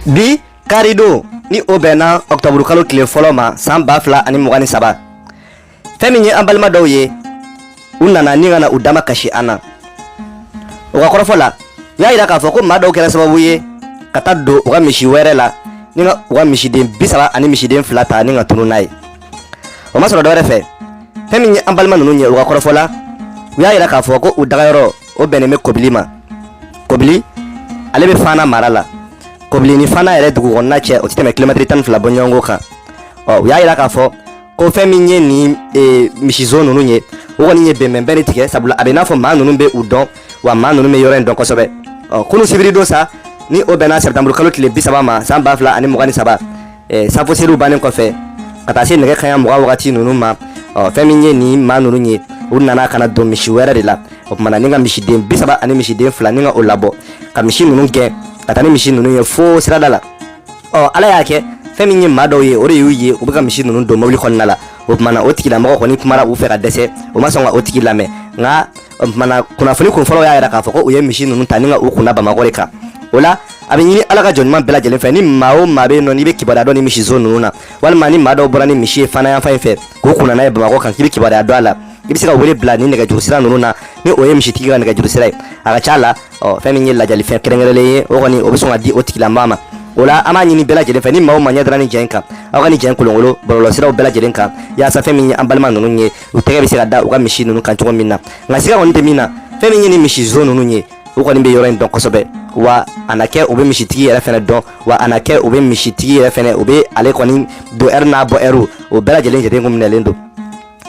bi karidon ni o bɛnna ɔkutɔburu kalo tile fɔlɔ ma san ba fila ani mugan ni saba fɛn min ye an balima dɔw ye u nana ni ka na u dama kasi an na u ka kɔrɔfɔ la u y'a yira k'a fɔ ko maa dɔw kɛra sababu ye ka taa don u ka misi wɛrɛ la ni ka u ka misiden bi saba ani misiden fila ta ni ka tunu n'a ye o ma sɔrɔ dɔwɛrɛ fɛ fɛn min ye an balima ninnu ye u ka kɔrɔfɔ la u y'a yira k'a fɔ ko u dagayɔrɔ o bɛnnen bɛ kobili ma kobili ale bɛ fana mara la kobili ni fana yɛrɛ dugu kɔnɔna cɛ o tɛ tɛmɛ kilomɛtiri tan ni fila bɔɲɔgɔnko kan ɔ u y'a yira k'a fɔ ko fɛn min ye nin e, misizon ninnu ye o kɔni ye bɛnbɛnbɛn de tigɛ sabula a bɛ n'a fɔ maa ninnu bɛ u dɔn wa maa ninnu bɛ yɔrɔ in dɔn kosɛbɛ ɔ kunu sibiri don sa ni o bɛnna sɛtanburukalo tile bi saba ma san ba fila ani mugan ni saba safo seliw bannen kɔfɛ ka taa se nɛgɛ kanɲɛ mugan wagati ninnu ma fɛn min ye nin maa ninnu ye u nana ka na don misi wɛrɛ de la o tuma na ni ka misiden bi saba ani misiden fila ni ka o labɔ ka misi ninnu gɛn ka taa ni misi ninnu ye fo sirada la ɔ ala y'a kɛ fɛn min ye maa dɔw ye o de y'u ye u bɛ ka misi ninnu don mobili kɔnɔna la o tuma na o tigilamɔgɔ kɔni kumara u fɛ ka dɛsɛ u ma sɔn ka o tigi lamɛn nka o tuma na kunnafoni kun fɔlɔ y'a yira k'a fɔ ko u ye misi ninnu ta ni ka u kunna bamakɔ de kan o la a bɛ ɲini ala ka jɔn ɲuman bɛɛ lajɛlen fɛ ni maa o maa bɛ yen nɔ n'i bɛ kibaruya dɔn nin misizon ninnu na walima ni maa dɔw bɔra ni misi ye fana yanfan in fɛ k'u kunna n'a ye bamakɔ kan k'i bɛ kibaruya dɔn a la i bɛ se ka wele bila ni nɛgɛjuru sira ninnu na ni o ye misitigi ka nɛgɛjuru sira ye a ka ca a la ɔ fɛn min ye ladiyalifɛn kɛrɛnkɛrɛnlen ye o kɔni o bɛ sɔn ka di o tigilamɔgɔ ma o la an b'a ɲini bɛɛ lajɛlen fɛ ni maa o maa ɲɛ dara nin ja in kan aw ka nin ja in kolonkolon bɔlɔlɔsiraw bɛɛ lajɛlen kan yaasa fɛn min ye an balima ninnu ye u tɛgɛ bɛ se ka da u ka misi ninnu kan cogo min na nka siga kɔni tɛ min na fɛn min ye nin misizon ninnu ye u kɔni bɛ yɔrɔ in dɔn kosɛbɛ wa a na kɛ u bɛ misitigi yɛrɛ fɛnɛ dɔn wa a na kɛ u bɛ misitigi yɛrɛ fɛnɛ u bɛ ale kɔni don ɛri n'a bɔ ɛriw o bɛɛ lajɛlen jate kun minɛlen don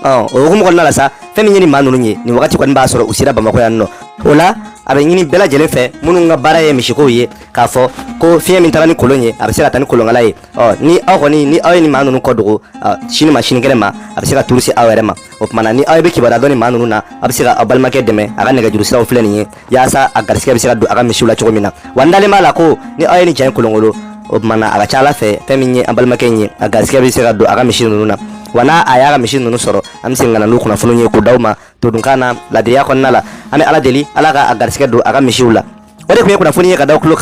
ɔ o hukumu kɔnɔna la sa fɛn min ye nin maa ninnu ye nin wagati kɔni b'a sɔrɔ u sera bamakɔ yan nɔ o la a bɛ ɲini bɛɛ lajɛlen fɛ minnu ka baara ye misikow ye k'a fɔ ko fiɲɛ min taara ni kolon ye a bɛ se ka taa ni kolonkala ye ɔ ni aw kɔni ni aw ye nin maa ninnu ko dogo sini ma sini kɛnɛ ma a bɛ se ka turu se aw yɛrɛ ma o tuma na ni aw bɛ kibaruya dɔn nin maa ninnu na a bɛ se ka aw balimakɛ dɛmɛ a ka nɛgɛjuru siraw filɛ nin ye yaasa a garisigɛ bɛ se ka don a ka misiw la cogo min na wa n dalen b'a la ko ni aw ye nin ja in kolonkolon o tuma na a ka ca ala fɛ fɛn min ye an balimakɛ in ye a garisigɛ bɛ se ka don a ka misi ninnu na wa n'a a y'a ka misi ninnu sɔrɔ an bɛ segin ka na n'o kunnafoniw ye k'u d'aw ma todunkan na ladiriya kɔnɔna la an bɛ ala deli ala ka a garisigɛ don a ka misiw la o de tun ye kunnafoni ye ka da aw tulo kan